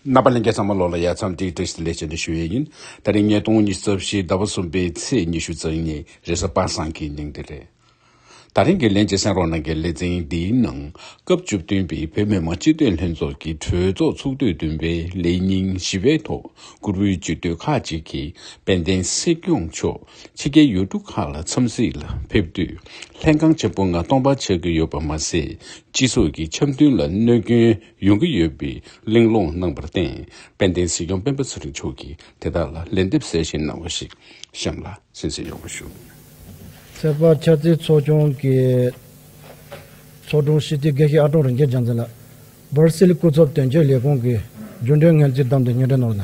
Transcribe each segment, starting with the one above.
རྣམ་པ་ལན་བརྒྱ་ཙམ་མ་ལོག་ལ་ཡར་མཚམས་དཀྲིགས་དཀྲིགས་སུ་ལས་བྱེད་འདི་ཞུ་ཡས་ཡིན། ད་རིང་ཉིས་སྟོང་ཉིས་རྩ་བཞི་ཟླ་བ་གསུམ་པའི་ཚེས་ཉི་ཤུ་ཚང་ཉིན་རེས་གཟའ་པ་སངས་ཀྱི་ཉིན་དེ་རེད། ད་རིང་གི་ལན་ཅིག་སེང་རོག་ནང་གི་ལེ་ཚན་འདིའི་ནང་སྐབས་བཅུ་བདུན་པའི་བོད་མི་མང་སྤྱི་འཐུས་ལྷན་ཚོགས་ཀྱི་གྲོས་ཚོགས་ཚོགས་དུས་བདུན་པའི་ལས་ཉིན་བཞི་པའི་ཐོག་བཀུར་འོས་སྤྱི་འཐུས་ཁག་ཅིག་གིས་དཔལ་ལྡན་སྲིད་སྐྱོང་མཆོག་ཕྱི་རྒྱལ་ཡུལ་གྲུ་ཁག་ལ་འཚམས་གཟིགས་ལ་ཕེབས་དུས་ལྷན་ཁང་ཆེན་པོ་ལྔ་སྟོང་པར་ཆགས་ཀྱི་ཡོད་པ་མ་ཟད་སྤྱི་ཚོགས་ཀྱི་འཆམ་མཐུན་ལ་གནོད་སྐྱོན་ཡོང་གི་ཡོད་པའི་གླེང་སློང་གནང་པར་བརྟེན་དཔལ་ལྡན་སྲིད་སྐྱོང་སྤེན་པ་ཚེ་རིང་མཆོག་གིས་དེ་དག་ལ་ལན་འདེབས་གསལ་བཤད་གནང་བ་ཞིག་གཤམ་ལ་གསན་གསན་ཡོང་བ་ཞུ། ཚེ་དཔག་ཕྱག་རྩེ་ཚོགས་ཆུང་གི་ཚོགས་དྲུང་ཧྲི་ཏི་དགེ་བཤེས་ཨ་ཀྲོང་རིན་ཆེན་བྱམས་བརྩེ་ལགས། སྦར་སིལ་སྐུ་ཚབ་དོན་གཅོད་ལས་ཁུངས་ཀྱི་རྒྱུན་གྲོན་ངལ་རྩོལ་བདམས་ཐོན་ཉེས་ཁྲལ་ནོར་ལ།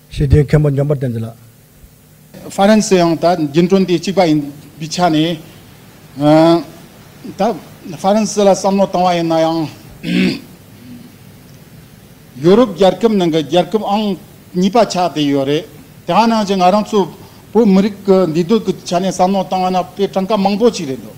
ཞེས་དེའི་མཁན་པོ་འཇམ་དཔལ་བསྟན་འཛིན་ལགས། ཧྥ་རན་སི་ཡང་ད་རྒྱུན་གྲོན་དེ་གཅིག་པ་ཡིན་པའི་ཆ་ནས། ད་ཧྥ་རན་སི་ལ་བསམ་བློ་བཏང་བ་ཡིན་ན་ཡང། ཡོ་རོབ་རྒྱལ་ཁབ་ནང་གི་རྒྱལ་ཁབ་ཨང་གཉིས་པ་ཆགས་བསྡད་ཡོད་རེད། དེའང་ནང་བཞིན་ང་རང་ཚོ་བོད་མི་རིགས་ཀྱི་འདུས་སྡོད་ཀྱི་ཆ་ནས་བསམ་བློ་བཏང་བ་ན་དཔེ་གྲངས་ཀ་མང་པོ་ཞིག་རེད་འདོད།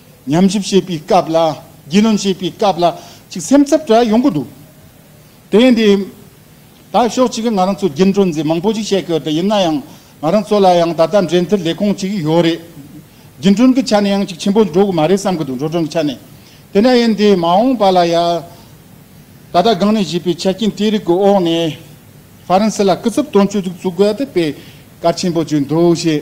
ཉམས་ཞིབ་བྱེད་པའི་སྐབས་ལ་རྒྱུས་ལོན་བྱེད་པའི་སྐབས་ལ་ཅིག་སེམས་འཚབ་འདྲ་ཡོང་གི་འདུག་དེ་ཡིན་དུས། ད་ཕྱོགས་གཅིག་གིས་ང་རང་ཚོ་རྒྱུན་སྤྲོད་འཛིན་མང་པོ་ཞིག་བྱེད་དགོས་དེ་ཡིན་ན་ཡང་ང་རང་ཚོ་ལ་ཡང་ད་ལྟ་འབྲེལ་མཐུད་ལས་ཁུངས་གཅིག་ཡོད་རེད། རྒྱུན་སྤྲོད་ཀྱི་ཆ་ནས་ཡང་ཅིག་ཆེན་པོ་འགྲོ་གི་མ་རེད་བསམ་གྱི་འདུག་འགྲོ་གྲོན་གྱི་ཆ་ནས་དེ་འདྲ་ཡིན་དུས་མ་འོངས་པ་ལ་ཡང། ད་ལྟ་སྒང་ནས་བྱས་པའི་ཆ་རྐྱེན་དེ་རིགས་ཀྱི་འོག་ནས་ཧྥ་རན་སི་ལ་སྐུ་ཚབ་དོན་གཅོད་ཅིག་བཙུགས་དགོས་དེ་བས་གལ་ཆེན་པོ་བརྗོད་འདུག་ཞེས་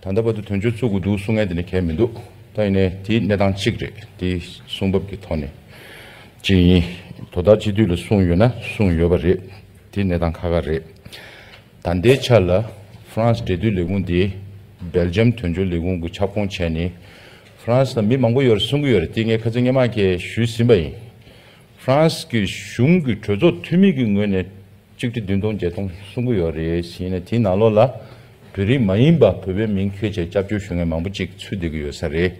ད་ལྟ་བར་དུ་དོན་གཅོད་བཙུགས་དགོས་འདུག་གསུང་མཁན་དེ་ནི་གལ་མི་འདུག་ད་ཡིན་ནའི་དེའི་གནས་སྟངས་གཅིག་རེད་དེའི་གསུང་བབ་ཀྱི་ཐོག་ནས་གཅིག་ཡིན་དོ་བདག་སྤྱི་འཐུས་ལ་གསུང་ཡོད་ན་གསུང་ཡོད་པ་རེད་དེའི་གནས་སྟངས་ཁ་ཁ་རེད་ད་ལྟའི་ཆ་ལ France འབྲེལ་མཐུད་ལས་ཁུངས་དེ Belgium དོན་གཅོད་ལས་ཁུངས་ཀྱི་ཁྱབ་ཁོངས་བྱས་ནས France ལ་མི་མང་པོ་ཡོད་རེད་གསུང་གི་ཡོད་རེད་དེ་ངས་ཁ་ཚིག་སྙན་མང་ཁྱེད་ཞུས་ཟིན་པ་ཡིན France གྱི་གཞུང་གི་གྲོས་ཚོགས་འཐུས་མི་གྱི་ངོས་ནས་གཅིག་ཁྲི་བདུན་སྟོང་བརྒྱད་སྟོང་གསུང་གི་ཡོད་རེད་བཞིན་ནས་དེའི་ནང་ལོགས་ལ་བོད་རིགས་མ་ཡིན་པ་བོད་པའི་མིང་འཁྱོལ་བྱས་སྐྱབས་བཅོལ་ཞུ་མཁན་མང་པོ་གཅིག་ཚུད་བསྡད་ཀྱི་ཡོད་ས་རེད།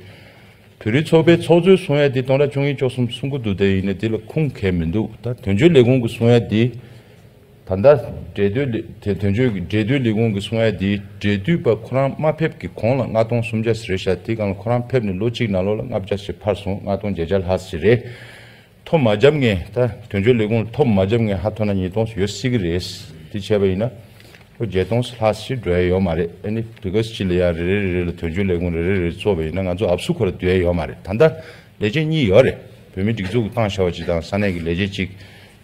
བོད་རིགས་ཚོགས་པའི་ཚོགས་གཙོའི་གསུང་ཡ་དེ་སྟོང་དྲག་བཅུ་གཉིས་བཅུ་གསུམ་གསུང་གི་འདུག་དེ་ཡིན་ན་དེ་ལ་ཁུངས་གལ་མི་འདུག་ད་དོན་གཅོད་ལས་ཁུངས་ཀྱི་གསུང་ཡ་དེ་ད་ལྟ་འབྲེལ་སྡོད་ལས་དོན་གཅོད་འབྲེལ་སྡོད་ལས་ཁུངས་ཀྱི་གསུང་ཡ་དེ་འབྲེལ་སྡུད་པ་ཁོ་རང་མ་ཕེབས་ཀྱི་གོང་ལ་ལྔ་སྟོང་སུམ་བརྒྱ་ཟེར་བཞག་དེ་གང་ལ་ཁོ་རང་ཕེབས་ནས་ལོ་གཅིག་ནང་ལོགས་ལ་ལྔ་བརྒྱ་ཞེས་འཕར་སོང་ལྔ་སྟོང་བརྒྱད་བརྒྱ་ལྷག་ཟེར་རེད། ཐོ་མ་བརྒྱབ་ངེས་ད་དོན་གཅོད་ལས་ཁུངས་ལ་ཐོ་མ་བརྒྱབ་ངེས་ཧ་ཐོ་ན་ཉིས་སྟོང་ཡོད་སྲིད་གི་རེད་དེ་བྱས་པ་ཡིན་ན་ལོ་བརྒྱད་སྟོང་ལྷག་ཕྱིན་འགྲོ་ཡ་ཡོད་མ་རེད་ཨ་ནི་བི་ཀོས་སྤྱི་ལ་ཡ་རེ་རེ་རེ་རེ་ལ་དོན་གཅོད་ལས་ཁུངས་རེ་རེ་རེ་རྩོད་པ་ཡིན་ན་ང་ཚོ་ཨབ་སུ་ཁོ་ར་སྡོད་ཡ་ཡོད་མ་རེད་ད་ལྟ་ལས་བྱེད་གཉིས་ཡོད་རེད་བོད་མི་སྒྲིག་འཛུགས་ཀྱི་ཏང་བྱ་བ་སྤྱི་དང་ས་གནས་ཀྱི་ལས་བྱེད་ཅིག་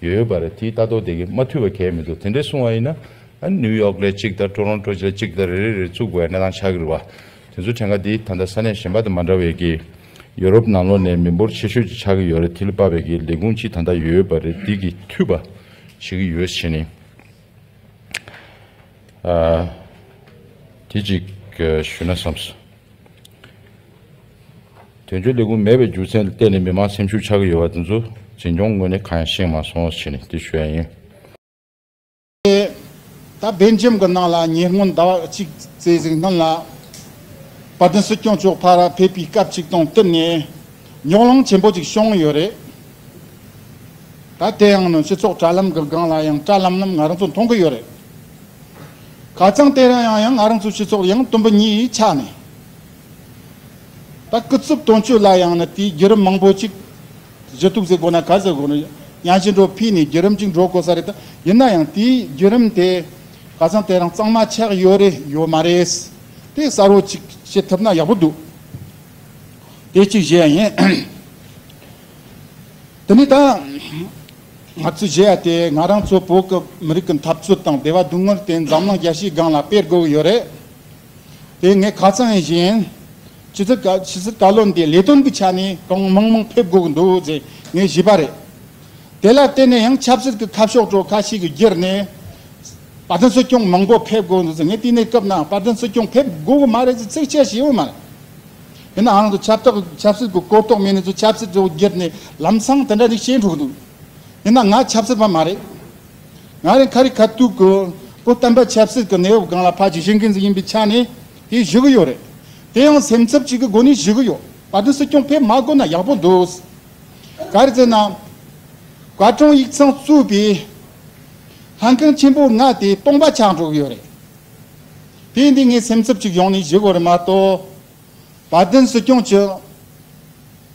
ཡོད་ཡོད་པ་རེད་དེའི་ལྟ་རྟོག་དེ་གས་མ་འཐུས་པ་གས་མི་འདུག་དེ་འདྲས་གསུང་བ་ཡིན་ན་ཨ་ནི་ནིའུ་ཡོག་ལས་གཅིག་དང་ཀྲོ་རོན་ཀྲོ་ལས་གཅིག་ད་རེ་རེ་རེ་རྩུག་པའི་གནས་སྟངས་ཆགས་གི་རེད་བ། དེ་ཚོའི་གྲངས་ཀ་དེ་ད་ལྟ་ས་གནས་གཞན་པ་དང་མ་འདྲ་བས་ཀྱི། ཡོ་རོབ་ནང་ལོགས་ནས་མི་འབོར་ཆེ་ཤོས་ཀྱི་ཆགས་ཀྱི་ཡོད་རེད་དེ་ལ་དཔག་པའི་ཀྱི་ལས་ཁུངས་གཅིག་ད་ལྟ་ཡོད་ཡོད་པ་རེད་དེ་ཀྱི་འཐུས་པ་བྱེད་ཀྱི་ཡོད་བྱས་ནས། དེ་ཅིག་ཞུས་ན་བསམས། དོན་གཅོད་ལས་ཁུངས་མེད་པའི་རྒྱུ་མཚན་ལ་བལྟས་ནས་མི་མང་སེམས་ཤུགས་ཆགས་ཀྱི་ཡོད་པ་དེ་ཚོ་འཛིན་སྐྱོང་ངོས་ནས་གང་ཡང་ཤེས་མ་སོང་བྱས་ནས་དེ་ཞུས་ཡ་ཡིན། ད་བེལ་ཇེམ་གྱི་ནང་ལ་ཉེ་སྔོན་ཟླ་བ་གཅིག་བརྩེ་གཟིགས་སྣང་ལ་བ་དན་སྲིད་སྐྱོང་མཆོག་ཕ་ར་ཕེབས་པའི་སྐབས་ཅིག་དང་བསྟུན་ནས་ཉོག་གླང་ཆེན་པོ་ཅིག་བྱུང་ཡོད་རེད་ད། དེ་ཡང་ནི་སྤྱི་ཚོགས་དྲ་ལམ་གྱི་སྒང་ལ་ཡང་བཀྲ་ལམ་ལམ་ང་རང་ཚོ་མཐོང་གི་ཡོད་རེད། ཁ་ཙང་དེ་རིང་ཡང་ཡང་ང་རང་ཚོའི་སྤྱི་ཚོགས་ལ་ཡང་དུམ་བུ་གཉིས་ཆགས་ནས་ད་སྐུ་རྩུབ་དོན་གཅོད་ལ་ཡང་ནི་དེའི་བརྒྱུད་རིམ་མང་པོ་ཅིག་དེ་ཚོའི་གཏུགས་ཚེ་སྒོ་ན་གར་ཟེར་དགོས་ན་གཡང་ཆེན་འགྲོ་ཕིས་ནས་བརྒྱུད་རིམ་ཅིག་འགྲོ་དགོས་ས་རེད་ད། ཡིན་ན་ཡང་དེའི་བརྒྱུད་རིམ་དེ། ཁ་སང་དེ་རང་གཙང་མ་ཆགས་ཡོད་རེད་ཡོད་མ་རེད། དེ་གསར་བོ་ཅིག་བྱེད་ཐུབ་ན་ཡག་པོ་འདུག། དེ་གཅིག་བཞེས་ཡ་ཡིན། དེ་ནས་ད། ང་ཚོས་བཞེས་ཡ་དེ་ང་རང་ཚོ་བོད་ཀྱི་མི་རིགས་ཀྱི་འཐབ་རྩོད་དང་བདེ་བ་སྡུག་བསྔལ་དེ་འཛམ་གླིང་རྒྱ་ཤེས་སྒང་ལ་སྤེལ་དགོས་ཀྱི་ཡོད་རེད། དེ་ངས་ཁ་སང་ཡིན་བཞིན། ཇི་སྲིད་བཀའ་བློན་དེ་ལས་དོན་གྱི་ཆ་ནས་གང་མང་མང་ཕེབས་དགོས་ཀྱི་འདུག་ཅེས་ངས་བཞེས་པ་རེད། དེ་ལ་བརྟེན་ནས་ཡང་ཆབ་སྲིད་ཀྱི་ཁ་ཕྱོགས་ཁྲོད་ཁ་ཞིག་གི་བརྒྱུད་ནས་བཀའ་བློན་སྲིད་སྐྱོང་མང་པོ་ཕེབས་དགོས་འདུག་ཟེར་ངས་དེ་ནས་སྐབས་ན་བཀའ་བློན་སྲིད་སྐྱོང་ཕེབས་དགོས་ཀྱི་མ་རེད་ཅེས་ཚིག་བཤད་བྱས་ཡོད་མ་རེད། ཡིན་ནའང་ཆབ་སྲིད་ཀྱི་གོ་རྟོགས་མེད་ནས་ཚོས་ཆབ་སྲིད་ཀྱི་བརྒྱུད་ནས་ལམ་སང་དེ་འདྲ་ཞིག་བྱས་འགྲོ་གི་འདུག་ཡིན་ན་ང་ཆབ་སྲིད་པ་མ་རེད། ང་རང་ཁ་རི་ཁ་ཐུག་གི་བོད་བསྟན་པ་ཆབ་སྲིད་ཀྱི་གནས་བབ་སྒང་ལ་ཕ་ཇི་བཞིན་མཁན་ཞིག་ཡིན་པའི་ཆ་ནས་དེ་བཞུགས་ཀྱི་ཡོད་རེད། དེ་ཡང་སེམས་འཚབ་ཅིག་གི་སྒོ་ནས་བཞུགས་ཀྱི་ཡོད། བཀའ་དྲུང་སྲིད་སྐྱོང་ཕེབས་མ་དགོས་ན་ཡག་པོ་འདུག། གར་ཟེར་ན། བཀའ་དྲུང་ཡིག་ཚང་བཙུགས་པའི་ལྷན་ཁང་ཆེན་པོ་ལྔ་དེ་སྟོང་པ་ཆགས་འགྲོ་གི་ཡོད་རེད། དེ་འདི་ངས་སེམས་འཚབ་ཅིག་ཡོང་ནས་བཞུགས་དགོས་རེད་མ་གཏོགས། བཀའ་དྲུང་སྲིད་སྐྱོང་ཆུ།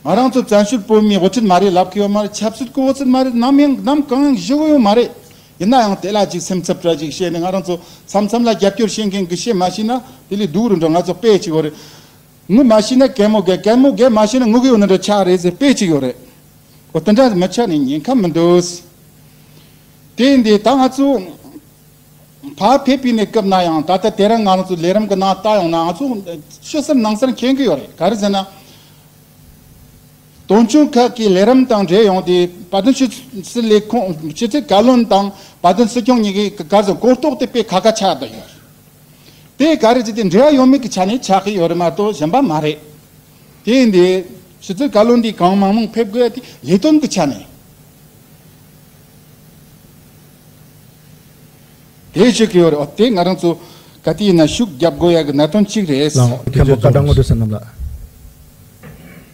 ང་རང་ཚོ་བཙན་བྱོལ་བོད་མིའི་དབུ་ཁྲིད་མ་རེད་ལབ་ཀྱི་ཡོད་མ་རེད་ཆབ་སྲིད་སྐུ་དབུ་ཚུད་མ་རེད་ནམ་ཡང་ནམ་གང་ཡང་བཞུགས་ཀྱི་ཡོད་མ་རེད། ཡིན་ན་ཡང་དེ་ལ་ཅིག་སེམས་འཚབ་པྲ་ཞིག་བྱས་ནས་ང་རང་ཚོ་མཚམས་མཚམས་ལ་རྒྱབ་སྐྱོར་བྱེད་མཁན་གྱི་བྱེད་མ་ཤེས་ན་དེ་ལས་སྡུག་རུ་འགྲོ་ང་ཚོ་དཔེ་གཅིག་ཡོད་རེད་ངུ་མ་ཤེས་ན་གད་མོ་བགད་གད་མོ་བགད་མ་ཤེས་ན་ངུ་གི་ཡོད་ན་འདྲ་ཆགས་རེད་ཟེར་དཔེ་གཅིག་ཡོད་རེད་འོ་དེ་འདྲ་མི་ཆགས་ནས་ཉེན་ཁ་མི་འདུག་དེ་ཡིན་དེ་ད་ང་ཚོ་བག་ཕེབས་པའི་ནས་སྐབས་ན་ཡང་ད་ལྟ་དེ་རིང་ང་རང་ཚོ་ལས་རིམ་གྱི་ནང་ལྟ་ཡོང་ན་ང་ཚོ་ཕྱི་སར་ནང་སར་མཁྱེན་གི་ཡོད་རེད་ག་རེ་ཟེར་ན། དོན་ཆུང་ཁག་གི་ལས་རིམ་དང་འབྲེལ་ཡོང་སྟེ་བ་དན་ཆུ་ཚིལ་ལས་ཁུངས་ཆུ་ཚིལ་བཀའ་བློན་དང་བ་དན་སྲིད་སྐྱོང་གཉིས་ཀྱི་ག་གཟུགས་སྐོར་རྟོགས་དེ་སྤེལ་ག་ག་ཆགས་དུ་ཡོད། དེས་ག་རེ་བྱས་ཏེ་འབྲེལ་བ་ཡོད་མེད་ཀྱི་ཆ་ནས་ཆགས་ཀྱི་ཡོད་རེད་མ་གཏོགས་གཞན་པ་མ་རེད། དེས་འདི་ཆུ་ཚིལ་བཀའ་བློན་འདིས་གང་མང་མང་ཕེབས་དགོས་དེ་ལས་དོན་གྱི་ཆ་ནས། དེ་བྱེད་ཀྱི་ཡོད་རེད་འོ་དེ་ང་རང་ཚོ་ག་དུས་ཡིན་ན་ཤུགས་རྒྱབ་དགོས་ཡག་གི་གནད་དོན་གཅིག་རེད། ལའང། མཁན་པོ་བཀའ་དྲང་ངོ་སྤྲོད་ཟེར་རྣམས་ལ།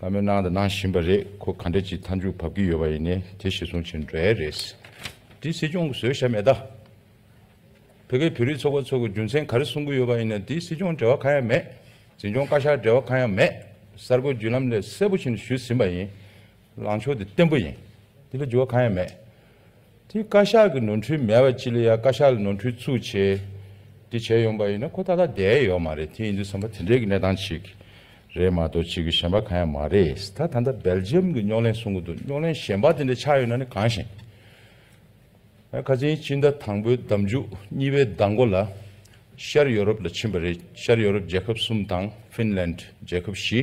བ་མོས་གནང་དང་གནང་བཞིན་པ་རེད་ཁོ་ག་འདྲ་ཅིག་མཐའ་མཇུག་བབ་ཀྱི་ཡོད་པ་ཡིན་ནས་དེ་གཞི་བཟུང་བྱེད་འདྲའི་རེད། འདི་སྲིད་སྐྱོང་གི་བཟོས་ཞབས་མེད་ད། བོད་པའི་བོད་རིགས་ཚོགས་པ་ཚོ་གི་རྒྱུ་མཚན་ག་རེ་གསུང་གི་ཡོད་པ་ཡིན་ནས་འདི་སྲིད་སྐྱོང་འབྲེལ་བ་གང་ཡང་མེད། འཛིན་སྐྱོང་བཀའ་ཤག་འབྲེལ་བ་གང་ཡང་མེད། གསར་འགོད་བརྒྱུད་ལམ་ལས་གསལ་པོ་བཞིན་ཞུས་ཟིན་པ་ཡིན། ལངས་ཕྱོགས་དེ་བརྟན་པོ་ཡིན། འདི་ལ་འགྱུར་བ་གང་ཡང་མེད། དེ་བཀའ་ཤག་གི་ནོར་འཁྲུལ་མེད་པ་ཅི་ལ་ཡ་བཀའ་ཤག་ལ་ནོར་འཁྲུལ་ཚུགས་ཆེ་དེ་བྱས་ཡོང་པ་ཡིན་ན་ཁོ་ད་ལྟ་བསྡད་ཡོད་མ་རེད་དེ་ཡིན་དུས་བསམ་པ་དེ་འདྲས་ཀྱི་གནས་སྟངས་ཅིག་རེད་མ་གཏོགས་ཅིག་གི་གཞན་པ་གང་ཡང་མ་རེད་ད་ད་ལྟ་སྦེལ་ཇི་ཡམ་གྱི་རྙོག་གླེང་གསུང་གི་འདུག་རྙོག་གླེང་གཞན་པ་དེ་འདྲས་ཆགས་ཡོད་ན་ནི་གང་ཞིག་ཨ་ཁ་ཆེན་སྤྱི་ཟླ་དང་པོའི་ཟླ་མཇུག་གཉིས་པའི་ཟླ་མགོ་ལ་ཤར་ཡོ་རོབ་ལ་ཕྱིན་པ་རེད་ཤར་ཡོ་རོབ་རྒྱལ་ཁབ་གསུམ་དང་ཧྥིན་ལན་རྒྱལ་ཁབ་བཞི།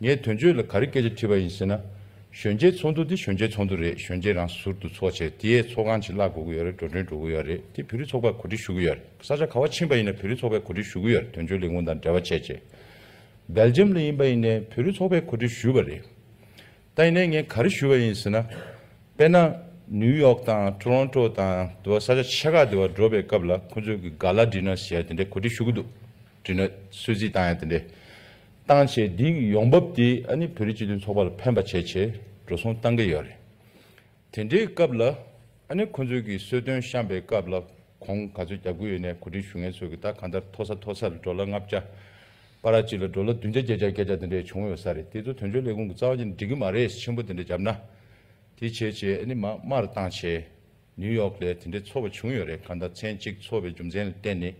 ངས་དོན་གཅོད་ལ་ག་རེ་སྐད་ཆ་དྲིས་པ་ཡིན་ཟེར་ན། གཞོན་སྐྱེས་ཚོགས་འདུ་འདི་གཞོན་སྐྱེས་ཚོགས་འདུ་རེད་གཞོན་སྐྱེས་རང་ཟུར་དུ་ཚོགས་བྱས་དེ་ཡས་ཚོགས་ཁང་ཕྱིར་བརླག་དགོས་ཀྱི་ཡོད་རེད་འགྲོ་གྲོན་འགྲོ་གི་ཡོད་རེད་དེ་བོད་རིགས་ཚོགས་པར་གོ་སྒྲིག་ཞུ་གི་ཡོད་རེད་ས་ཆ་ག་བ་ཕྱིན་པ་ཡིན་ན་བོད་རིགས་ཚོགས་པས་གོ་སྒྲིག་ཞུ་གི་ཡོད་རེད་དོན་གཅོད་ལས་ཁུངས་དང་འབྲེལ་བ་བྱས་རྗེས། སྦེལ་ཇམ་ལ་ཡིན་པ་ཡིན་ནས་བོད་རིགས་ཚོགས་པས་གོ་སྒྲིག་ཞུས་པ་རེད། ད་ཡིན་ནས་ངས་ག་རེ་ཞུས་པ་ཡིན་ཟེར་ན། དཔེར་ན། ནིའུ་ཡོག་དང་ཏོ་རོན་ཏོ་དང་དེ་བ་ས་ཆ་ཆེ་ཁག་དེ་བ་འགྲོ་པའི་སྐབས་ལ་ཁོ་ཚོས་གི་ག་ལ་བྲིས་ན་ཞེས་དེ་འདྲའི་གོ་སྒྲིག་ཞུ་གི་འདུག། བྲིས་ནོད་གསོལ་ཚིགས་གཏང་ཡང་དེ་འདྲའི་གཏང་བྱས་འདི་ཡོང་འབབ་དེ་ཨ་ནི་བོད་རིགས་སྤྱི་མཐུན་ཚོགས་པ་ལ་ཕན་པ་བྱས་བྱས་འགྲོ་སོང་གཏང་གི་ཡོད་རེད། དེ་འདྲའི་སྐབས་ལ་ཨ་ནི་ཁོ་ཚོས་ཀྱི་གསོལ་སྟོན་བཤམས་པའི་སྐབས་ལ་གོང་ག་ཚོད་རྒྱག་དགོས་ཡོད་ནས་གོ་སྒྲིག་ཞུ་མཁན་ཚོས་ཀྱི་ད་གང་ལྟར་མཐོ་ས་མཐོ་སར་འགྲོ་ལ་ལྔ་བརྒྱ་པ་ར་གཅིག་ལ་འགྲོ་ལ་བདུན་བརྒྱ་བརྒྱད་བརྒྱ་བརྒྱད་བརྒྱ་དེ་འདྲའི་བྱུང་ཡོད་ས་རེད་དེ་ཚོ་དོན་གཅོད་ལས་ཁུངས་ཀྱི་རྩ་བ་ཅན་འགྲིག་གི་མ་རེད་ཆེན་པོ་དེ་འདྲ་བརྒྱབ་ན་དེ་བྱས་བྱས་ཨ་ནི་མ་དམར་གཏང་བྱས། ནིའུ་ཡོག་ལས་དེ་འདྲའི་ཚོར་བ་བྱུང་ཡོད་རེད་ག་ཟླ་ཚན་གཅིག་འཚོ་བའི་རྒྱུ་མཚན་ལ་བརྟེན་ནས་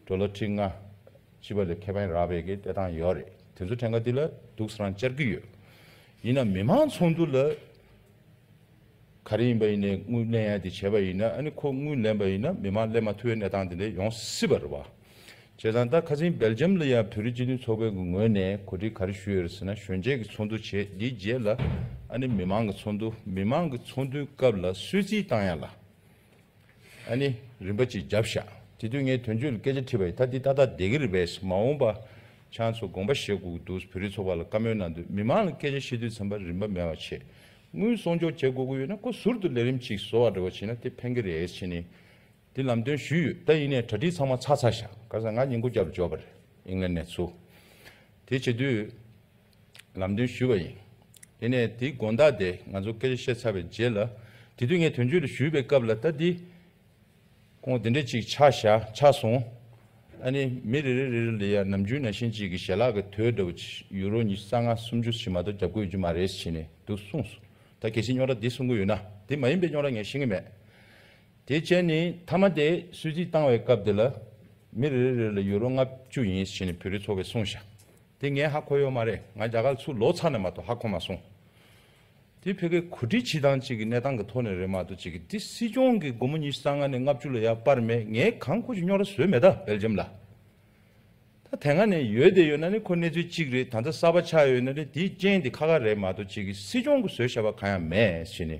འགྲོ་ལོ་ཁྲི་ལྔ་བཅུ་བ་ལས་ཁེ་ཕན་རག་པའི་གི་བལྟས་སྟངས་ཡོད་རེད་དེ་ཚོ་ཕྲན་ག་དུས་ལ་སྡུག་ས་རང་བཅར་གི་ཡོད་ཡིན་ནམ་མི་མང་ཚོགས་འདུ་ལ་ག་རེ་ཡིན་པ་ཡིན་ནས་དངུལ་ལེན་ཡ་དེ་བྱས་པ་ཡིན་ན་ཨ་ནི་ཁོ་དངུལ་ལེན་པ་ཡིན་ན་མི་མང་ལེན་མ་ཐུབ་བའི་གནས་སྟངས་དེ་འདྲས་ཡོང་སྲིད་པ་རེད་བ། བྱས་ཙང་ད་ཁ་ཚིང་སྦེལ་ཇམ་ལ་ཡང་བོད་རིགས་སྤྱི་མཐུན་ཚོགས་པའི་ངོས་ནས་གོ་སྒྲིག་ག་རེ་ཞུས་ཡོད་རེད་ཟེར་ན་གཞོན་སྐྱེས་ཀྱི་ཚོགས་འདུ་བྱས་དེའི་རྗེས་ལ་ཨ་ནི་མི་མང་གི་ཚོགས་འདུ་མི་མང་གི་ཚོགས་འདུའི་སྐབས་ལ་གསོལ་ཚིགས་བཏང་ཡ་ལ་ཨ་ནི་རིན་པ་ཅིག་བརྒྱབ་བཞག་དེ་དུས་ངས་དོན་གཅོད་ལ་སྐད་ཆ་དྲིས་པ་ཡིན་ད་འདི་ཏག་ཏག་བསྡད་ཀྱི་རེད་བས་མ་འོངས་པ་ཆང་ཚོ་དགོངས་པ་བཞེས་དགོས་ཀྱི་འདུག་བོད་རིགས་ཚོགས་པ་ལ་བཀའ་མོལ་གནང་དུས་མི་མང་ལ་སྐད་ཆ་བཤད་དུས་ཚན་པ་རིན་པ་མེད་པ་ཆེད་དངུལ་སྲོང་འཇོག་བྱེད་དགོས་ཀྱི་ཡོད་ན་ཁོ་ཟུར་དུ་ལས་རིམ་ཅིག་བཟོ་བ་རེ་བ་བྱས་ན་དེ་ཕན་གྱི་རེད་ཕྱིན་ནས་དེ་ལམ་སྟོན་ཞུས་ཡོད་ད་ཡིན་ནས་གྲ་སྒྲིག་ཚང་མ་ཚར་ཚར་བཞག་ག་ས་ང་ཉིན་གོ་བརྒྱ་རུ་འབྱོར་པ་རེད་ཨིང་ལན་ནས་ཚུར། དེ་བྱེད་དུས་ལམ་སྟོན་ཞུས་པ་ཡིན། དེ་ནས་དེའི་དགོངས་དག་དེ་ང་ཚོ་སྐད་ཆ་བཤད་ཚར་བའི་རྗེས་ལ་དེ་དུས་ངས་དོན་གཅོད་དུ་ཞུས་པའི་སྐབས་ལ་ད་འདི་ཁོང་དེ་འདྲས་ཅིག་ཆགས་བཞག་ཆགས་སོང། ཨ་ནི་མི་རེ་རེ་རེ་རེ་ལས་ཡར་ནམ་རྒྱུན་ན་གཞན་གཅིག་གི་ཞལ་ལག་གི་དོད་འདྲ་བོ་ཆི་ཡུ་རོ་ཉི་ས་ལྔ་སུམ་ཅུ་ཞིག་མ་གཏོགས་རྒྱབ་དགོས་ཡོད་རྒྱུ་མ་རེད་ཟེར་ནས་འདུག་གསུངས་སོང། ད་གལ་སྲིད་རྙོག་དྲ་འདི་གསུང་གི་ཡོད་ན་འདི་མ་ཡིན་པའི་རྙོག་དྲ་ངས་ཤེས་ཀྱི་མེད། དེའི་རྐྱེན་ནི་མཐའ་མ་དེ་སུད་སི་བཏང་བའི་སྐབས་དེ་ལ་མི་རེ་རེ་ལ་ཡུ་རོ་ལྔ་བཅུ་ཡིན་ཞེས་ནི་བོད་རིགས་ཚོ་བས་གསུངས་ཤག་དེ་ངས་ཧ་གོ་ཡོད་མ་རེད་ང་རྒྱ་གར་ཚུར་ལོག་ཚར་ནས་མ་གཏོགས་ཧ་གོ་མ་སོང། དེ་ཕལ་སྐད་གོ་སྒྲིག་བྱེད་སྟངས་གཅིག་གི་གནས་སྟངས་ཀྱི་ཐོག་ནས་རེད་མ་གཏོགས་གཅིག་གི་དེ་སྲིད་སྐྱོང་གི་སྒོར་མོ་ཉིས་སྟ་ལྔ་ནས་ལྔ་བཅུ་ལ་ཡར་སྤར་མེད་ངས་གང་ཁོ་ཅི་རྙོག་ར་བཟོས་མེད་ད་བེལ་ཇམ་ལ། ད་དེ་སྔ་ནས་ཡོད་དེ་ཡོད་ན་ནི་ཁོ་གནས་ཚུལ་གཅིག་རེད་ད་ལྟ་གསར་པ་ཆགས་ཡོད་ན་ནི་དེའི་རྐྱེན་དེ་ཁ་ཁ་རེད་མ་གཏོགས་གཅིག་གི་སྲིད་སྐྱོང་གི་བཟོས་བྱས་པ་གང་ཡང་མེད་ཞེས་ནི།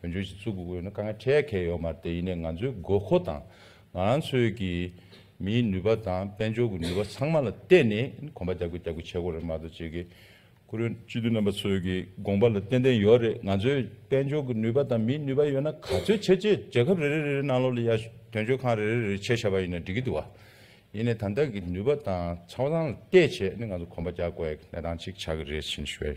བོད་ལྗོངས་སྤྱི་ཚོགས་ཀྱི་དབུས་ན་དཀའ་ངལ་འཕྲད་མཁན་ཡོད་མ་དེ་ཡིན་ནས་ང་ཚོའི་དགོས་མཁོ་དང་ང་རང་ཚོའི་གི་མིའི་ནུས་པ་དང་དཔལ་འབྱོར་གྱི་ནུས་པ་ཚང་མ་ལ་བརྟེན་ནས་གོམ་པ་རྒྱག་དགོས་རྒྱག་དགོས་བྱེད་དགོས་རེད་མ་གཏོགས་བྱེད་གི་ཁུ་རུ། སྤྱི་འཐུས་རྣམ་པ་ཚོའི་གི་དགོངས་པ་ལ་ཏན་ཏན་ཡོད་རེད་ང་ཚོའི་དཔལ་འབྱོར་གྱི་ནུས་པ་དང་མིའི་ནུས་པ་ཡོད་ན་ག་ཚོད་བྱེད་ཅེས་རྒྱལ་ཁབ་རེ་རེ་རེ་རེ་ནང་ལོགས་ལ་ཡ་དོན་གཅོད་ཁང་རེ་རེ་རེ་རེ་ཕྱེ་བྱས་པ་ཡིན་ན་འགྲིག་གི་འདུག་བ། ཡིན་ནས་ད་ལྟ་གི་ནུས་པ་དང་ཚང་མ་ཚང་ལ་བལྟས་བྱས་ནས་ང་ཚོ་གོམ་པ་རྒྱག་དགོས་ཡག་གི་གནས་སྟངས་གཅིག་ཆགས་གི་རེད་བྱིན་ཞོལ།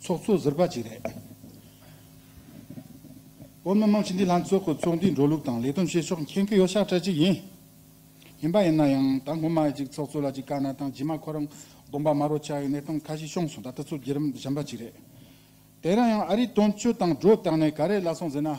ཚོགས་གཙོ་ཟུར་པ་གཅིག་རེད། བོད་མི་མང་སྤྱི་འཐུས་ལྷན་ཚོགས་ཀྱི་ཚོགས་འདུའི་འགྲོ་ལུགས་དང་ལས་དོན་བྱེད་ཕྱོགས་མཁྱེན་མཁན་ཡོད་ཤག་གྲས་གཅིག་ཡིན། ཡིན་པ་ཡིན་ན་ཡང་ད་སྔོན་མ་གཅིག་ཚོགས་གཙོ་ལ་གཅིག་དཀའ་ན་དང་རྗེས་མ་ཁོ་རང་དགོངས་པ་མ་རོ་ཆགས་ཡོད་གནས་སྟངས་ཁ་ཤས་བྱུང་སོང་ད་ལྟ་ཚོ་རྒྱུད་རིམ་གཞན་པ་གཅིག་རེད། དེ་རིང་ཡང་ཨ་རིའི་དོན་གཅོད་དང་སྒྲོ་བཏགས་ནས་ག་རེ་ལ་སོང་ཟེར་ན།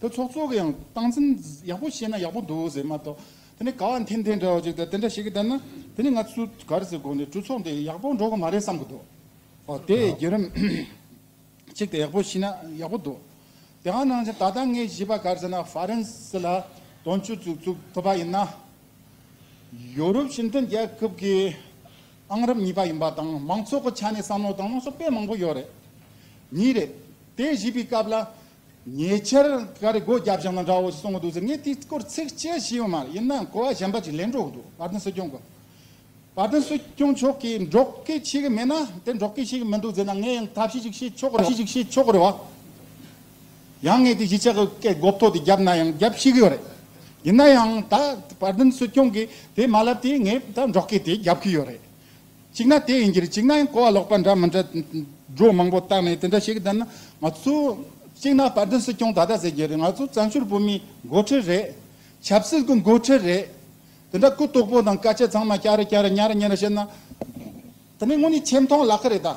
དེ་ཚོགས་གཙོ་གི་ཡང་སྟངས་འཛིན་ཡག་པོ་ཤེས་ན་ཡག་པོ་འདུག་ཟེར་མ་གཏོགས་དེ་ནས་ག་བ་འཐེན་འཐེན་འདྲ་བ་ཅིག་དང་དེ་འདྲ་ཞིག་གི་དེ་ན་དེ་ནི་ང་ཚོས་ག་རེ་ཟེར་དགོངས་ནས་གྲོས་ཚོགས་འདི་ཡག་པོ་འགྲོ་གི་མ་རེད་བསམ་གི་འདུག་ཨོ་དེ་བརྒྱུད་རིམ་ཅིག་དེ་ཡག་པོ་ཤེས་ན་ཡག་པོ་འདུག་དེ་གང་ནང་བཞིན་ད་ལྟ་ངས་བཞེས་པ་ག་རེ་ཟེར་ན་ཧྥ་རན་སི་ལ་དོན་གཅོད་ཚུགས་ཚུགས་ཐུབ་པ་ཡིན་ན་ཡོ་རུབ་ཞི་མཐུན་རྒྱལ་ཁབ་ཀྱི་ཨང་རབས་གཉིས་པ་ཡིན་པ་དང་མང་ཚོགས་ཀྱི་ཆ་ནས་བསམ་བློ་དང་བློ་སོགས་དཔེ་མང་པོ་ཡོད་རེད་ཉིད་རེད་དེ་བཞེས་པའི་སྐབས་ལ་ཉེ་ཆར་ག་རེ་སྒོ་རྒྱ་བཞག་ན་འདྲ་བོ་གསུང་གི་འདུག་ཟེར་ངས་དེའི་སྐོར་ཚིག་གཅིག་བྲིས་ཡོད་མ་རེད་ཡིན་ནའང་གོ་བ་གཞན་པ་ཅིག་ལེན་འགྲོ་གི་འདུག་བར་དོན་སྲིད་སྐྱོང་གི་བར་དོན་སྲིད་སྐྱོང་མཆོག་གིས་འགྲོ་གི་ཤེས་ཀྱི་མེད་ན་དེ་འགྲོ་གི་ཤེས་ཀྱི་མི་འདུག་ཟེར་ན་ངས་ཡང་ཐབས་ཤེས་ཅིག་བྱེད་ཆོག་གི་རེད་བ། ཤེས་ཅིག་བྱེད་ཆོག་གི་རེད་བ། ཡང་ངས་དེ་གཞིས་ཆགས་ཀྱི་སྐད་སྒོ་ཐོག་དེ་བརྒྱབ་ན་ཡང་བརྒྱབ་ཤེས་ཀྱི་ཡོད་རེད། ཡིན་ན་ཡང་ད་བར་དོན་སྲིད་སྐྱོང་གིས་དེ་མ་ལབ་དུས་ངས་ད་འགྲོ་གི་དེ་བརྒྱབ་ཀྱི་ཡོད་རེད། གཅིག་ན་དེ་ཡིན་གྱི་རེད་གཅིག་ན་ཡང་གོ་བ་ལོག་པ་འདྲ་མི་འདྲ། སྒྲོ་མང་པོ་བཏགས་ནས་དེ་འདྲ་བྱེད་གི་འདི་ན་ང་ཚོ། གཅིག་ན་དཔལ་ལྡན་སྲིད་སྐྱོང་ད་ལྟ་ཟེར་གྱི་རེད་ང་ཚོ་བཙན་བྱོལ་བོད་མིའི་འགོ་ཁྲིད་རེད། ཆབ་སྲིད་ཀྱི་འགོ་ཁྲིད་རེད། དེ་འདྲ་གུ་དོག་པོ་དང་དཀའ་སྤྱད་ཚང་མ་སྐྱ་རེ་སྐྱ་རེ་ཉྭ་རེ་ཉྭ་རེ་བྱེད་ན། དེ་ནི་དངོས་ནས་ཆེ་མཐོང་ལག་ཁ་རེད་ད།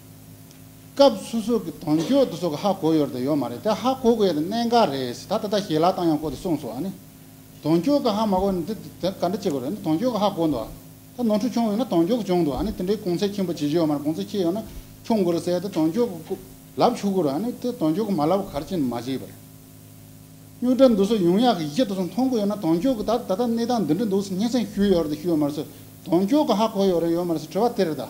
སྐབས་སོ་སོ་གི་དོན་གཅོད་དུ་སོགས་ཀྱི་ཧ་གོ་ཡོད་དང་ཡོད་མ་རེད་དེ་ཧ་གོ་དགོས་ཡོད་དང་གནད་འགག་རེད་ད་ད་ལྟ་ཞལ་ལག་བཏང་ཡང་གོ་དེ་གསུངས་སོ་ཨཱ་ནི། དོན་གཅོད་ཀྱི་ཧ་མ་གོ་ནི་དེ་དེ་ག་འདྲ་བྱེད་དགོས་རེད་ནི་དོན་གཅོད་ཀྱི་ཧ་གོ་འདུག་ད་ནོར་འཁྲུལ་བྱུང་ཡོད་ན་དོན་གཅོད་ཀྱི་བྱུང་འདུག་ཨཱ་ནི་དེ་འདྲའི་གུང་ཚད་ཆེན་པོ་བྱེད་རྒྱུ་ཡོད་མ་རེད་གུང་ཚད་ཆེ་ཡོད་ན་ཁྱུང་གུ་རུ་བསད་དེ་དོན་གཅོད་ཀྱི་སྐུ་ལབ་ཆུག་གུ་རུ་ཨཱ་ནི་དེ་དོན་གཅོད་ཀྱི་མ་ལབ་གར་ཅི་མ་བྱེད་པ་རེད། སྨྱུག་སྒྲ་འདུག་སོགས་ཡུང་ཡ་གི་ཡི་གེ་དུ་སོགས་མཐོང་གི་ཡོད་ན་དོན་གཅོད་ཀྱི་ད་ད་ལྟ་གནས་སྟངས་འདི་འདྲ་འདུག་སྙན་སེང་ཞུས་ཡོད་རེད་དང་ཞུས་ཡོད་མ་རེད་སོགས་དོན་གཅོད་ཀྱི་ཧ་གོ་ཡོད་རེད་ཡོད་མ་རེད་སོགས་དྲི་བ་དེ་རེད་ད།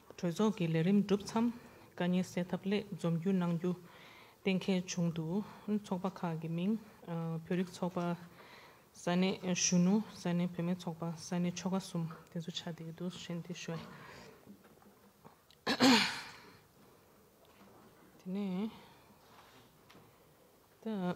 གྲོས་ཚོགས་ཀྱི་ལས་རིམ་གྲུབ་མཚམས་བཀའ་རྙིང་གསལ་ཐབས་སླད་འཛོམས་རྒྱུ་གནང་རྒྱུ་གཏན་འཁེལ་བྱུང་འདུག་ཚོགས་པ་ཁག་གི་མིང། བོད་རིགས་ཚོགས་པ། ས་གནས་གཞོན་ནུ་ས་གནས་བུད་མེད་ཚོགས་པ་ས་གནས་ཆོལ་ཁ་གསུམ་དེ་ཚོ་ཆ་འདི་འདུག་གཞན་དེ་ཤོད། དེ་ནས་ད།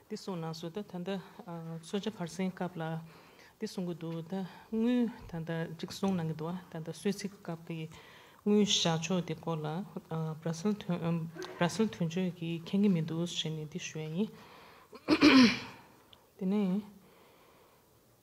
དེ་གསུངས་ནང་སོ་ད་ད་ལྟ་སོ་ཇ་བར་སེང་སྐབས་ལ་དེ་གསུངས་གི་འདུག་ད་དངུལ་ད་ལྟ་ཅིག་གསུངས་གནང་གི་འདུག་ད་ལྟ་གསོལ་ཚིགས་སྐབས་ཀྱི་དངུལ་བཞག་ཕྱོགས་དེ་སྐོར་ལ་བར་སེལ་དོན་བར་སེལ་དོན་གཅོད་ཀྱི་མཁྱེན་གི་མི་འདུག་ཞེས་ནས་དེ་ཞུ་ཡ་ཡིན། དེ་ནས།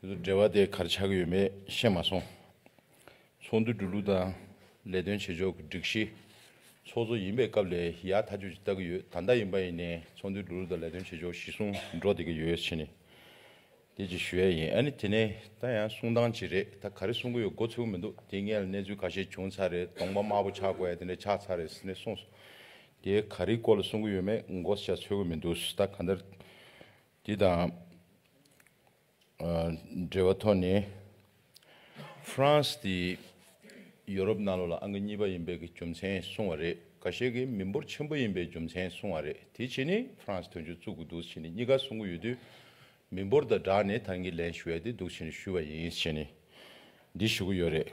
དེ་ཚོ་འབྲེལ་བ་དེ་གར་ཆགས་ཡོད་མེད་ཤེས་མ་སོང། ཚོགས་འདུ་འགྲོ་ལུགས་དང་ལས་དོན་བྱེད་ཕྱོགས་ཀྱི་སྒྲིག་གཞི། ཚོགས་གཙོ་ཡིན་པའི་སྐབས་ལས་ཡག་མཐའ་དཔྱོད་ཅིག་ལྟ་གི་ཡོད་ད་ལྟ་ཡིན་པ་ཡིན་ནས་ཚོགས་འདུའི་འགྲོ་ལུགས་དང་ལས་དོན་བྱེད་ཕྱོགས་གཞི་བཟུང་འགྲོ་བསྡད་ཀྱི་ཡོད་ཕྱིན། དེ་ཅིག་ཞུ་ཡ་ཡིན་ཨ་ནི་དེ་ནས་ད་ཡང་གསུང་སྟངས་ཅིག་རེད་ད་ག་རེ་གསུང་གི་ཡོད་མགོ་ཚོས་གི་མི་འདུག་དེ་སྔའི་ལ་གནས་ཚུལ་ག་ཤེད་བྱུང་ཚར་རེད་གདོང་པ་དམར་པོ་ཆགས་དགོས་ཡ་དེ་འདྲ་ཆགས་ཚར་རེད་ཟེར་ནས་གསུངས་སོང་དེ་ག་རེའི་སྐོར་ལ་གསུང་གི་ཡོད་མེད་མགོ་ཚོས་ཀྱི་མི་འདུག་ད་ག་འདྲ། དེ་དང་འབྲེལ་བའི་ཐོག་ནས། ཧྥ་རན་སི་དེ་ཡོ་རོབ་གནའ་ལོ་ལ་ཨང་ཀི་གཉིས་པ་ཡིན་པའི་གི་རྒྱུ་མཚན་གསུངས་བ་རེད། ཁ་ཤས་ཀི་མི་འབོར་ཆེན་པོ་ཡིན་པའི་རྒྱུ་མཚན་གསུངས་བ་རེད། དེ་བྱས་ནི་ཧྥ་རན་སི་དོན་གཅོད་བཙུགས་གི་འདུག་བྱས་ནི་གཉིས་ཀ་གསུངས་གི་ཡོད་དུས། མི་འབོར་དང་སྦྲགས་ནས་ད་ངི་ལན་ཞུ་ཡ་དེ་འདུག་བྱས་ནི་ཞུས་བ་ཡིན་བྱས་ནི། འདི་ཞུ་གི་ཡོད་རེད།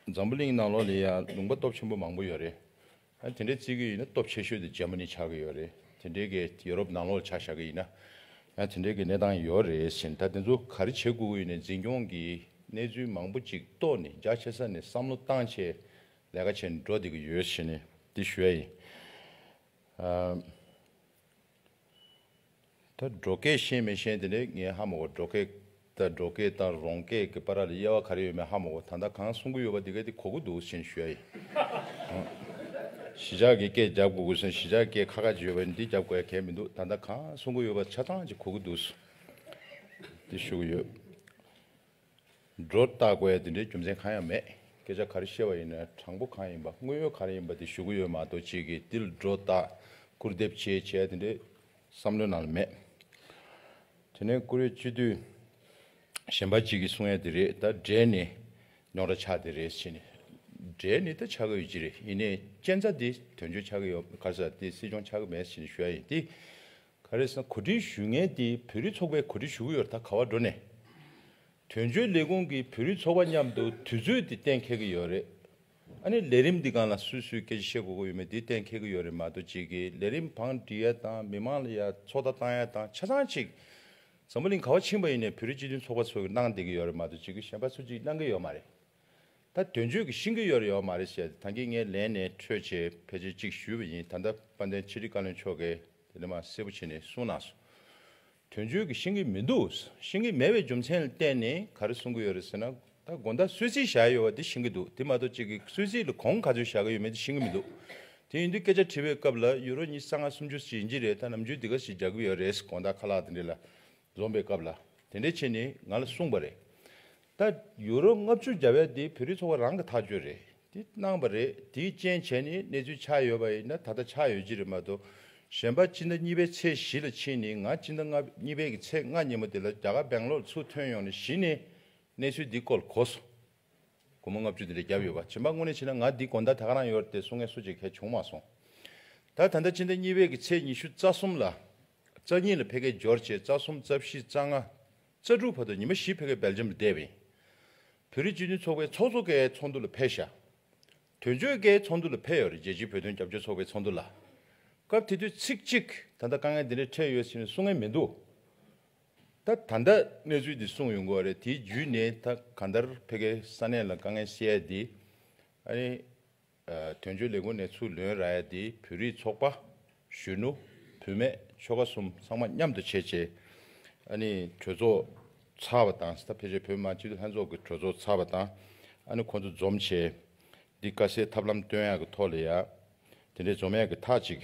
འཛམ་བུ་གླིང་གནའ་ལོ་ལས་ཡང་ལུང་པ་སྟོབས་ཆེན་པོ་མང་པོ་ཡོད་རེད། ཡང་དེ་འདྲའི་བརྩི་གི་ཡིན་ན་སྟོབས་ཆེ་ཤོས་དེ་རྗེན་མ་ནི་ཆགས་ཀྱི་ཡོད་རེད་དེ་འདྲའི་གི་ཡོ་རོབ་ནང་ལོག་ཆ་བཞག་གི་ཡིན་ན་ཡང་དེ་འདྲའི་གི་གནས་སྟངས་ཡོད་རེད་ཟིན་ད་དེ་ཚོ་ག་རེ་བྱེད་དགོས་ཀྱི་ཡོད་ནས་འཛིན་སྐྱོང་གི་གནས་ཚུལ་མང་པོ་ཅིག་རྟོགས་ནས་རྒྱ་ཆེ་ས་ནས་བསམ་བློ་བཏང་ཆེད་ལས་ཀ་བྱེད་འགྲོ་བསྡད་ཀྱི་ཡོད་ཞེས་ནས་འདི་ཞུ་ཡ་ཡིན། ད་འབྲོག་སྐད་ཤེས་མི་ཤེས་དེ་ནི་ངའི་ཧ་མ་གོ་འབྲོག་སྐད་ད་འབྲོག་སྐད་དང་རོང་སྐད་ཀྱི་པ་ར་ལ་དབྱེ་བ་ག་རེ་ཡོད་མེད་ཧ་མ་གོ་ད་ལྟ་གང་གསུང་གི་ཡོད་པ་དེ་ག་དེ་གོ་གི་འདུག་ཟིན་ཞུ་ཡ་ཡིན། གཞིས་ཆགས་ཀྱི་སྐད་རྒྱབ་དགོས་དགོས་ཟིན་གཞིས་ཆགས་སྐད་ཁ་ཁ་ཅིག་ཡོད་པ་འདི་རྒྱབ་དགོས་ཡ་གལ་མི་འདུག་ད་ལྟ་གང་གསུང་གི་ཡོད་པ་ཆ་ཚང་ཅིག་གོ་གི་འདུག་དེ་ཞུ་གི་ཡོད། སྒྲོ་བཏགས་དགོས་ཡ་དེ་འདྲའི་རྒྱུ་མཚན་གང་ཡང་མེད་སྐད་ཆ་ག་རེ་བཤད་པ་ཡིན་ན་དྲང་པོ་གང་ཡིན་པ་དངོས་ཡོད་ག་རེ་ཡིན་པ་དེ་ཞུ་གི་ཡོད་མ་གཏོགས་ཅིག་གིས་འདི་ལ་སྒྲོ་བཏགས་སྐུར་འདེབས་བྱས་བྱས་ཡ་དེ་འདྲའི་བསམ་བློའི་ནང་ལ་མེད། དེ་ནས་ཀུ་རེ་སྤྱི་འཐུས་གཞན་པ་གཅིག་གིས་གསུང་ཡ་དེ་རེད་ད་འབྲས་ནི་ཉོག་དྲ་ཆགས་དེ་རེད་ཟེར་ནས། འབྲས་ནི་ད་ཆགས་ཀྱི་ཡོད་ཅི་རེད་ཡིན་ནའི་གཅན་ཚ་དེ་དོན་གཅོད་ཆགས་ཀྱི་ཡོད་ག་ས་དེ་སྲིད་སྐྱོང་ཆགས་ཀྱི་མེད་ཟེར་ནས་ཞུ་ཡ་ཡིན་དེ། ག་རེ་ཟ་གོ་སྒྲིག་ཞུས་ངེས་དེ་བོད་རིགས་ཚོགས་པས་གོ་སྒྲིག་ཞུ་གི་ཡོད་རེད་ད་ག་བ་འགྲོ་ནས། དོན་གཅོད་ལས་ཁུངས་ཀྱི་བོད་རིགས་ཚོགས་པ་མཉམ་དུ་དུས་ཚོད་དེ་གཏན་འཁེལ་གྱི་ཡོད་རེད། ཨ་ནི་ལས་རིམ་འདི་གང་ལ་སུས་སུས་སྐད་ཆ་བཤད་དགོས་དགོས་ཡོད་མེད་དེ་གཏན་འཁེལ་གྱི་ཡོད་རེད་མ་གཏོགས་གཅིག་གིས་ལས་རིམ་བང་སྒྲིག་ཡ་དང་མི་མང་ལ་ཡ་ཚོགས་བརྡ་བཏང་ཡ་དང་ཆ་ཚང་གཅིག་ཛམ་བུ་གླིང་ག་བ་ཕྱིན་པ་ཡིན་ནས་བོད་རིགས་སྤྱི་མཐུན་ཚོགས་པ་ཚོ་གིས་གནང་བསྡད་ཀྱི་ཡོད་རེད་མ་གཏོགས་གཅིག་གིས་གཞན་པ་ཚོ་གཅིག་གནང་གི་ཡོད་མ་རེད། ད་དོན་གཅོད་ཀྱི་ཤིང་གི་ཡོད་རེད་ཡོད་མ་རེད་ཟེར་ཏེ་ད་ངས་ངའི་ལན་ནས་འཕྲོད་ཆེད་ཕལ་ཆེར་གཅིག་ཞུས་པ་ཡིན་ད་ལྟ་དཔལ་ལྡན་ཕྱི་དྲིལ་བཀའ་བློན་མཆོག་གིས་དེ་འདྲ་མ་གསལ་པོ་བྱས་ནས་གསུངས་གནང་སོང། དོན་བརྗོད་ཀྱི་ཤེས་ཀྱི་མི་འདུག་ཤེས་ཀྱི་མེད་པའི་རྒྱུ་མཚན་བསྟན་ནས་ག་རེ་གསུང་གི་ཡོད་རེད་ཟེར་ན། ད་དགོན་བདག་གསོལ་ཚིགས་བཞག་ཡོད་པ་དེ་ཤེས་ཀྱི་འདུག་དེ་མ་གཏོགས་གཅིག་གིས་གསོལ་ཚིགས་ལ་གོང་ག་ཚོད་བཞག་གི་ཡོད་མེད་དེ་ཤེས་ཀྱི་མི་འདུག་དེ་ཡིན་དུས་སྐད་ཆ་དྲིས་པའི་སྐབས་ལ་ཡུ་རོ་གཉིས་རྩ་ལྔ་སུམ་ཅུ་ཟིན་གྱི་རེད་ད་ནམ་རྒྱུན་འདི་ག་ཞིག་རྒྱག་གི་ཡོད་རེད་དགོན་བདག་ཁ་ལག་དེ་འདྲས་ལ་འཛོམས་པའི་སྐབས་ལ་དེ་འདྲས་བྱས་ནས་ང་ལ་གསུངས་པ་རེད། ད་ཡུ་རོ་ལྔ་བཅུ་བརྒྱ་བས་འདི་བོད་རིགས་ཚོགས་པ་རང་གི་ཐག་གཅོད་རེད་དེ་གནང་བ་རེད་དེའི་རྐྱེན་བྱས་ནས་གནས་ཚུལ་ཆགས་ཡོད་པ་ཡིན་ན་ད་ལྟ་ཆགས་ཡོད་ཀྱི་རེད་མ་གཏོགས་གཞན་པ་སྤྱི་ཟླ་གཉིས་པའི་ཚེས་བཞི་ལ་ཕྱིན་ནས་ང་སྤྱི་ཟླ་ལྔ་གཉིས་པའི་གི་ཚེས་ལྔ་ཉིན་མོ་དེ་ལ་རྒྱ་གར་སྦེང་ལོར་ཚུར་ཐོན་ཡོང་ནས་གཞི་ནས་གནས་ཚུལ་འདི་སྐོར་གོ་སོང་སྒོར་མོ་ལྔ་བཅུ་དེ་འདྲ་བརྒྱབ་ཡོད་པ་བྱིན་པ་དངོས་ནས་ཕྱིན་ན་ང་འདི་དགོན་བདག་དེ་ག་རང་ཡོད་རེད་དེ་སོ་ངས་སོ་བྱེད་མཁན་བྱུང་མ་སོང་ད་ད་ལྟ་སྤྱི་ཟླ་གཉིས་པའི་གི་ཚེས་ཉི་ཤུ་རྩ་གསུམ་ལ་རྩ་གཉིས་ལ་ཕེ་ཁེ་འབྱོར་བྱས་རྩ་གསུམ་རྩ་བཞི་རྩ་ལྔ། རྩ་དྲུག་བར་དུ་ཉི་མ་བཞི་བྷེ་ཀའི་སྦེལ་ཇམ་ལ་བསྡད་པ་ཡིན། བོད་རིགས་སྤྱི་མཐུན་ཚོགས་པའི་ཚོགས་གཙོ་ཀའི་ཚོགས་འདུ་ལ་ཕེབས་བཞག་དོན་གཅོད་ཀའི་ཚོགས་འདུ་ལ་ཕེབས་ཡོད་རེད་རྒྱལ་སྤྱིའི་བོད་དོན་རྒྱབ་སྐྱོར་ཚོགས་པའི་ཚོགས་འདུ་ལ། སྐབས་དེ་དུས་ཚིག་གཅིག་ད་ལྟ་དཀའ་ངལ་འདི་འདྲ་འཕྲད་ཡོད་ཟེར་ནས་གསུང་ངེས་མི་འདུག་ད་ད་ལྟ་གནས་ཚུལ་འདི་གསུངས་ཡོད་འགོ་རེད་དེའི་རྒྱུས་ནས་ད་ག་འདར་བྷེ་ཀའི་ས་གནས་ལ་དཀའ་ངལ་བཤད་དེ་ཨ་རི་དོན་གཅོད་ལས་ཁུངས་ནས་ཚུར་ལོན་ར་ཡ་དེའི་བོད་རིགས་ཚོགས་པ། གཞོན་ནུ། བུད་མེད་ཆོལ་ཁ་གསུམ་ཚང་མ་མཉམ་དུ་བྱས་རྗེས། ཨ་ནི་གྲོས་ཚོགས་ཚར་བ་དང་སྟབས་ཕལ་ཆེར་བོད་མི་མང་སྤྱི་འཐུས་ལྷན་ཚོགས་ཀྱི་གྲོས་ཚོགས་ཚར་བ་དང་ཨ་ནི་ཁོང་ཚོ་འཛོམས་བྱས། འདི་དཀའ་སེལ་ཐབས་ལམ་བཏོན་ཡག་གི་ཐོག་ལ་ཡག། དེ་འདྲའི་འཛོམས་ཡག་གི་ཐག་ཅིག།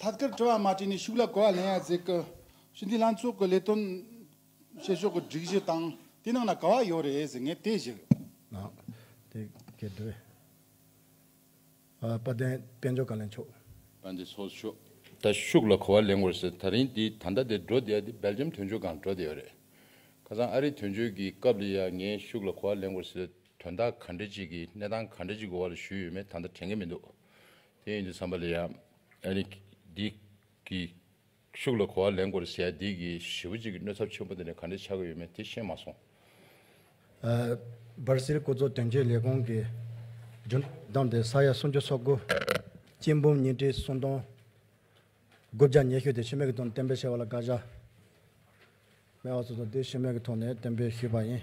ཐད་ཀར་དྲི་བ་མ་དྲིས་ནས་ཤུགས་ལ་གོ་བ་ལེན་ཡ་མཛད་སྐབས། ཞི་འདི་ལྷན་ཚོགས་ཀྱི་ལས་དོན་བྱེད་ཕྱོགས་ཀྱི་སྒྲིག་གཞི་དང་དེ་ནང་ན་ག་བ་ཡོད་རེད་ཟེར་ངེས་དེ་ཞིག། དཔལ་ལྡན་དཔལ་འབྱོར་བཀའ་བློན་མཆོག། དཔལ་ལྡན་ཚོགས་གཞོན་མཆོག། ད་ཤུགས་ལ་གོ་བ་ལེན་དགོས་ཟེར་ད་རིང་འདི་ད་ལྟ་དེ་འགྲོ་བསྡད་དེ་སྦེལ་ཇམ་དོན་གཅོད་སྒང་འགྲོ་བསྡད་ཡོད་རེད། ཁ་སང་ཨ་རིའི་དོན་གཅོད་ཀྱི་སྐབས་ལ་ཡང་ངས་ཤུགས་ལ་གོ་བ་ལེན་དགོས་ཟེར་དོན་དག་ག་འདྲ་ཅིག་གིས་གནས་སྟངས་ག་འདྲ་ཅིག་གི་འོག་ལ་བཞུགས་ཡོད་མེད་ད་ལྟ་དྲན་གྱི་མི་འདུག་དེ་ཡིན་གྱི་བསམ་པ་ལ་ཡ། ཨ་ནི། འདི། གི། ཤུགས་ལ་གོ་བ་ལེན་དགོས་རེད་བྱས་འདི་གི་བྱིས་པ་གཅིག་གི་གནོད་ཚབ་ཆེན་པོ་འདི་ནས་ག་འདྲས་ཆགས་ཀྱི་ཡོད་མེད་དེ་ཤེས་མ་སོང། སྦར་སིལ་སྐུ་ཚོགས་དོན་གཅོད་ལས་ཁུངས་ཀྱི་རྒྱུན་བདམས་ཏེ་ས་ཡ་སུམ་ཅུ་སོ་དགུ། སྐྱེས་འབུམ་ཉིས་ཁྲི་སུམ་སྟོང། དགུ་བརྒྱ་ཉེ་ཤོས་དེ་ཤི་རྨས་ཀྱི་ཐོག་ནས་གཏན་འབེབས་བྱས་པ་ལ་བཀའ་ཤག་སྨད་བ་སོ་སོ་དེས་ཤི་རྨས་ཀྱི་ཐོག་ནས་གཏན་འབེབས་ཞུས་པ་ཡིན།